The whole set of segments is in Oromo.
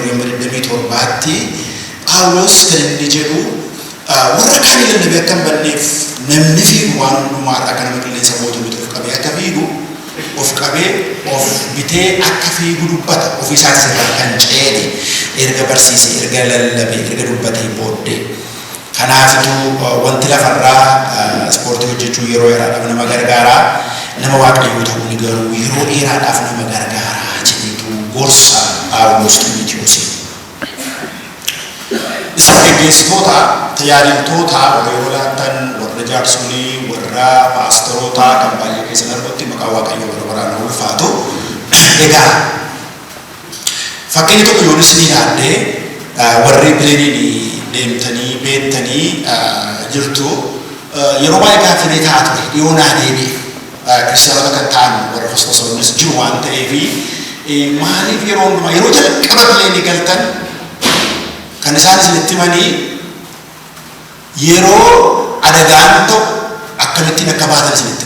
24-27tti Phaawulos kan inni jedhu warra kaanii lallabee akka hin banneef namni fiigu waan hundumaa irraa akka nama qilleensa booda bitu of qabee akka fiigu of qabee of bitee akka fiigu dubbata ofii isaatis irraa kan ceene erga barsiise erga lallabe erga dubbatee booddee Kanaafitu wanti lafarraa ispoortii hojjechuun yeroo yeraadhaaf nama gargaara. Nama Waaqayyoo ta'uun garuu yeroo dheeraadhaaf nama gargaara jedheetu gorsa Phaawulos Ximotewosiif. Isin geggeessitoota, tajaajiltoota warra yeroo laattan, warra jaarsolii, warra paasteroota kan baay'ee keessan argutti maqaa Waaqayyoo bara baraan haa ulfaatu. Egaa. Fakkeenya tokko yoon isinii laadhe warri pileeniin deemtanii beektanii jirtu yeroo baay'ee gaaffii mee ta'a ture dhiyoo naa deebi'e kiristiyaanota kan ta'an warra hostosoonnis jiru waan ta'eef maaliif yeroo hundumaa yeroo jalqaba pileenii galtan kan isaan isinitti himanii yeroo adagaan ta'u akkamittiin akka baatan isinitti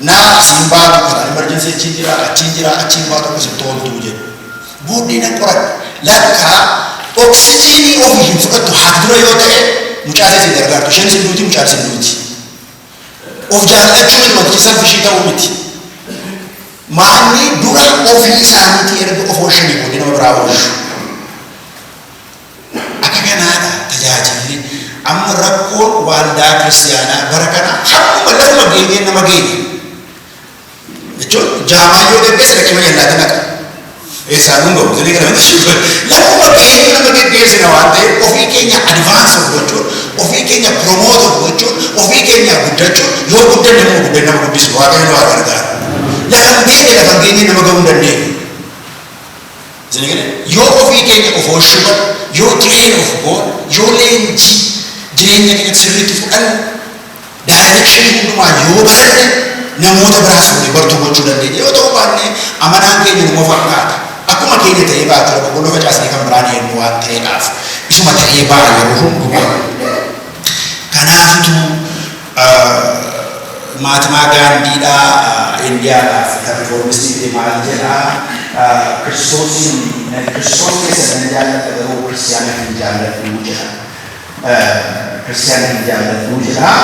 Naa siin baatu kana emergency achiin jiraa achiin jiraa achiin baatu akka sitti ooltuu jedhu. Booddee nan qoradhe. Lakkaa oksijiinii ofi hin fudhattu haati dura yoo ta'e mucaa isee sin gargaartu. Isheenis hin duuti mucaanis hin duuti. Of jaallachuu miti wantichi selfishii ta'uu miti. Maanni dura ofii isaaniitii erga of oolshanii booddee nama biraa oolshu. Akka kanaadha tajaajilli. Amma rakkoon waaldaa kiristiyaanaa bara kanaa hammuma lafuma geenyeen nama geenya. Jechuun jaamaa yoo geggeessa dhaqee mana yallaatti naqa. Eessaan kun gahu jedhee kana lafuma geenyee nama geggeessina waan ta'eef ofii keenya advaansi of gochuun ofii keenya piroomoota of gochuun ofii keenya guddachuun yoo guddanne immoo guddanne nama guddisu waaqayyo nu haa gargaaru. Lafa hin beekne lafa hin geenye nama gahuu hin dandeenye. Jennee yoo ofii keenya of oolchuu baanne, yoo train of goone, yoo leenjii jireenya keenyatti sirriitti fudhanne, direction hundumaa yoo baranne namoota biraas fuunee bartuu gochuu dandeenya. Yoo ta'uu baanne amanaan keenya numa fakkaata. Akkuma keenya ta'ee baatira boqqolloo facaasnee kan biraa deemnu waan ta'eedhaaf isuma ta'ee ba'a yeroo hundumaa. Kanaafituu. Maatmaa Gaandii dha Indiyaa dhaaf kan rifoormistii fide maal jedha Kiristoosiin Kiristoos keessan nan jaalladha garuu Kiristiyaana hin jaalladhu jedha Kiristiyaana hin jaalladhu jedha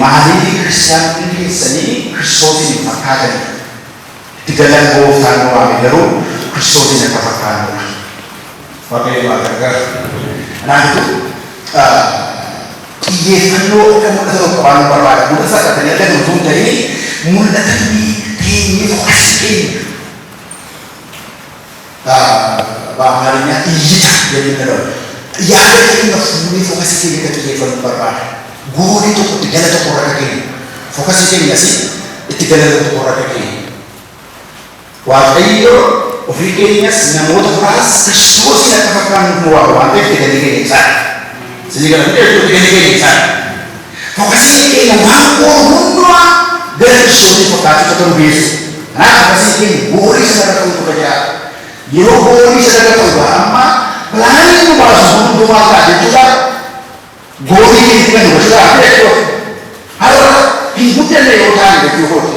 Maaliif Kiristiyaanonni keessanii Kiristoosiin hin fakkaatanii? Itti galan gooftaan nu waame garuu Kiristoosiin akka fakkaannuudha. Waaqayyo nu haa gargaaru. Kanaaf iyyuu xiyyeeffannoo akka mul'ata tokko qabaannu barbaada. Mul'ata salphattanii argattan utuu hin ta'in mul'ata inni teenyee fokasii keenya. Ba, ba, amaarinyaa iyyita jennee dhagahu. Yaada keenya irra fuunee fokasii keenya irra xiyyeeffannu barbaada. Goolii tokko itti gala tokko irra akka geenyu. Fokasii keenya si itti gala tokko tokko irra akka geenyu. Waaqayyo ofii keenyas namoota biraas Kiristoosiin akka fakkaannuuf nu waama waan ta'eef itti galli keenya isaadha. Isinii gala miti jechuun itti galli keenya isaadha. Fokasiin keenya waan goonu hundumaa gara Kiristoosiin fakkaachuutti akka nu geessu dha. Kanaaf fokasiin keenya goolii sana irra ta'uutu irra jiraata. Yeroo goolii sana irra ta'u bara ammaa pilaaniin nu baasu hunduu maal ta'a jechuu isaa goolii keenya irra nu gashuu ta'a jechuu kooti. Har'a hin guddanne yoo taane jechuu kooti.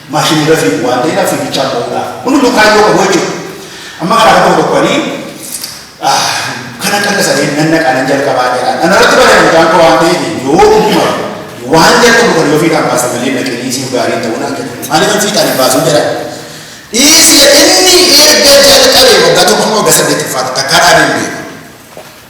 maashinii irra fiigu waan ta'eedhaaf fiigichaan ta'uudha. Kun hunduu kaayyoo qabu jechuudha. Amma kanaa tokko tokkooni kan akka akka sadeen nan naqaa nan jalqabaa jedhaan. Ana irratti bareedu mucaan koo waan ta'eef yoo dhuguma waan jalqabu kan yoo fiixaan baasa malee dhaqee dhiisii gaarii ta'uu naan jedhu. Maaliif fiixaan hin baasuu jedhaan. Dhiisii inni erga jalqabee waggaa tokko waggaa saddeet ulfaata takkaa dhaabee hin beeku.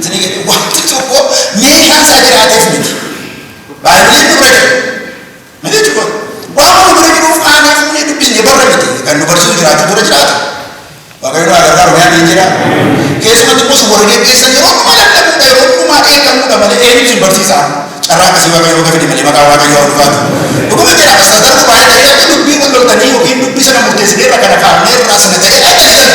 Isinii galee wanti tokko meeshaan isaa jiraateef miti. Baay'ee nu bira jira. Maal jechuudha? Waan nu bira jiruuf aanee fuunee dubbisnee barra miti. Kan nu barsiisu jiraachuu bira jiraata. Waaqayyo nu agarraa Oromiyaan ni jira. Keessumatti immoo warra geggeessan yeroo dhuma lallabuudha yeroo dhumaa eegamuudha malee eenyu isin barsiisa. Carraa akkasii Waaqayyo bakka fide malee maqaa Waaqayyo haa ulfaatu. Dhuguma jira astaadaruu baay'ee ta'ee dubbii wal loltanii yookiin dubbii sana murteessinee irra kana kaafnee irraa sana ta'ee ajjeessan.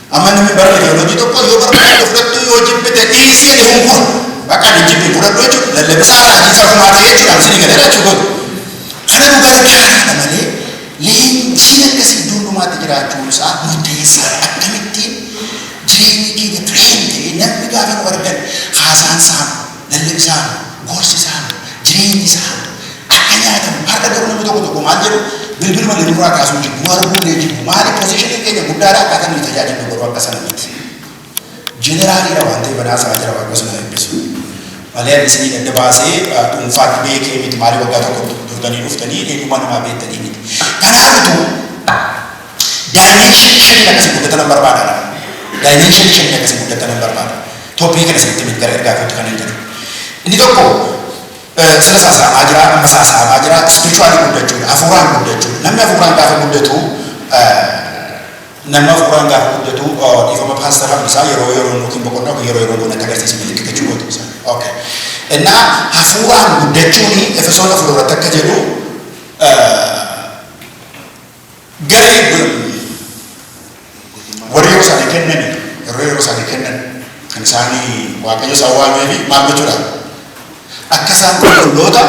Amma namni bara ideoloojii tokko yoo barbaadde fudhattuu yoo jibbite dhiisii ani kun kun bakka ani jibbi fudhadhu jechuudha lallabisaa raajiisaa kumaa ta'ee jechuudha amsin hin galee jechuudha. Kana nu gargaaraadha malee leenjiin akkasii iddoon dhumaatti jiraachuun isaa murteessaadha. Akkamittiin jireenyi keenya tireen ta'ee namni gaafa nu argan haasaan saamudha. Lallabni isaan, gorsi isaan, jireenyi isaan akka nyaatamu har'a garuu namni tokko tokko maal jedhu bilbiluma illee nurraa kaasuu jibbu arguu illee jibbu maaliif posiishiniin keenya guddaadha akkaataa nuyi tajaajillu garuu akka sana miti. Jeneraaliidha waan ta'e banaa isaa jira waaqayyo sana eebbisu. Malee ani isinii adda baasee dhuunfaatti beekee miti maalii waggaa tokko turtanii dhuftanii eenyummaa namaa beektanii miti. Kanaaf utuu daayimenshinii shaniin akkasii guddatan barbaada. Daayimenshinii shaniin akkasii guddatan barbaada. Toopikii kana isinitti hime gara ergaa kootti kanan jedhu. Inni tokko sila saasaamaa jira, amma saasaamaa jira, ispirichuwaalii guddachuudha, hafuuraan guddachuudha. Namni hafuuraan gaafa guddatu namni hafuuraan gaafa guddatu dhiifama paastar Hambisaa yeroo yeroo yookiin boqonnaa yookiin yeroo yeroo goona akka agarsiisu milikkii gochuu gootu isaa. Okay. Innaa hafuuraan guddachuun Efesoon afur irratti akka jedhu Garii birrii warri yeroo isaanii kennan yeroo yeroo isaanii kennan kan isaanii waaqayyo isaan waameefi maal gochuudha akka isaan qulqulloota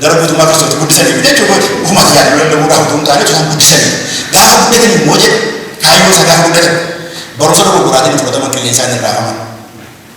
gara guutummaa kiristooti guddisanii fi jechuu kooti ofuma tajaajiluu danda'uudhaaf utuu hin taane isaan guddisanii gaafa guddatan immoo jedhe kaayyoo isaa gaafa guddatan barumsa dogoggoraatiin fudhataman qilleensaan irraa haman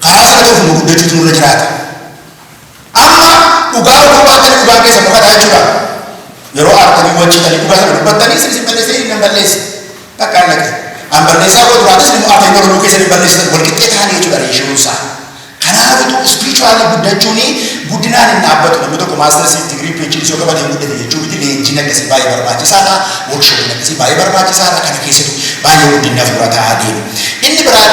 Karaa sana ta'uuf immoo guddachuutu nurra jiraata. Amma dhugaa utuu baattanii dhugaan keessan dhokata jechuudha. Yeroo aartanii wanciitanii dhugaa sana dubbattanii isin isin balleessee inni nan balleesse. Bakka hin dhaqe. An balleessaa koo duraatis inni immoo afaan Oromoo keessan hin balleessitan wal qixxee ta'anii jechuudha reeshiyoon isaa. Kanaaf utuu ispirichuwaalii guddachuun guddinaan hin dhaabbatu namni tokko maastarsii digirii piichiin yoo qabatee guddate jechuu miti leenjiin akkasii baay'ee barbaachisaadha. Workshoopiin akkasii baay'ee barbaachisaadha. Kana keessattuu baay'ee guddinni hafuura ta'aa deema. Inni biraan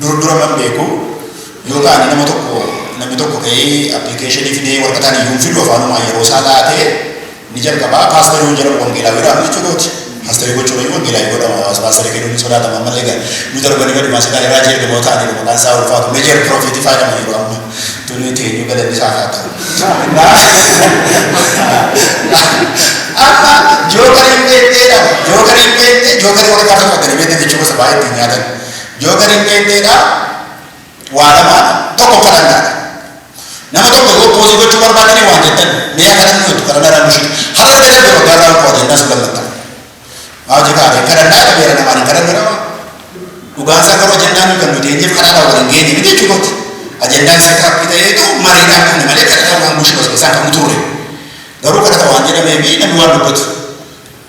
Dur dura man beeku yoo ta'an nama tokko namni tokko ka'ee appilikeeshinii fidee waraqataan iyyuu hin fidu afaanumaa yeroo isaa laatee ni jalqabaa paastarii hin jedhamu wangeelaa biraanu jechuu kooti. Paastarii gochuun iyyuu wangeelaa hin godhamu hawaasa paastarii kennuun hin sodaatama ammallee gara nu darbanii gadi maasaa ta'e raajii ergamoo ta'anii maqaan isaa ulfaatu meejeer piroofiitii faayidama yeroo amma tunii teenyuu galanni isaa haa ta'u. Amma jookariin beektee dha jookariin beektee jookariin waraqaa kan fakkanii beektan jechuu gosa baay'ee ittiin nyaatan. Yoo gad hin deemne egaa waa lamaadha. Tokko kadhannaadha. Nama tokko yoo poozii gochuu barbaadanii waan jettan mee akka namni jettu kadhannaa irraa nushii. Har'a irra darbe waggaa irraa qofa jennaa sun lammatta. Maa hojii kaa'ee kadhannaa irra beera namaan hin kadhannu nama. Dhugaan isaa garuu ajandaan nuyi kan nuti eenyeef kadhaadhaa waliin geenye miti jechuu kooti. Ajandaan isaa kaappi ta'eetu mariidhaan dhumne malee kadhataa waan bushii basbasaan kan turre. Garuu kadhata waan jedhamee fi namni waan dubbatu.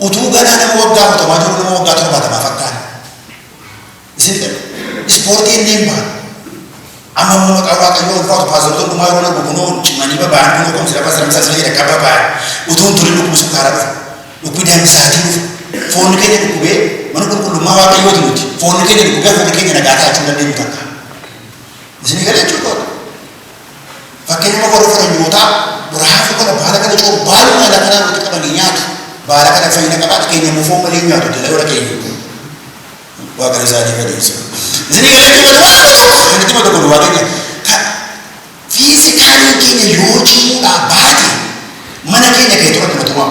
Utuu ganaa nama waggaa afurtamaa jiruu nama waggaa torbaatamaa fakkaanna. Isin jedha. Ispoortii inni hin baane. Amma immoo maqaa waaqayyoo ulfaatu paastorota hundumaa yeroo darbu kunoo cimanii baba'an kunoo kumsi lafa siramsaa sila jedha akka baba'an. Utuu hin turin dhukkubni sukkaaraa dhufa. Dhukkubni daangisaatii dhufa. Foonni keenya dhukkubee mana qulqullummaa waaqayyooti nuti. Foonni keenya dhukkubee foonni keenya nagaa taachuu dandeenyu takka. Isin galee jechuudha. Fakkeenyuma warra faranyootaa raafuu kana baala kana coomu baaluma lafa irraa walitti qabanii nyaatu. Baala kana fayyina qabaata keenya immoo foon malee nyaatu jala warra keenya. Waaqni isaanii fadhiisa. Isinii galee itti madu waan godhu kan itti madu godhu waa keenya. Ka fiizikaaliin keenya yoo cimuudhaa baate mana keenya keetu rakkina tumaa.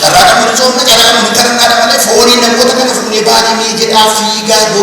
Carraa dhabanisoomna carraa nama hin kadhannaadha malee fooniin namoota kana fuunee baane mee jedhaa fiigaa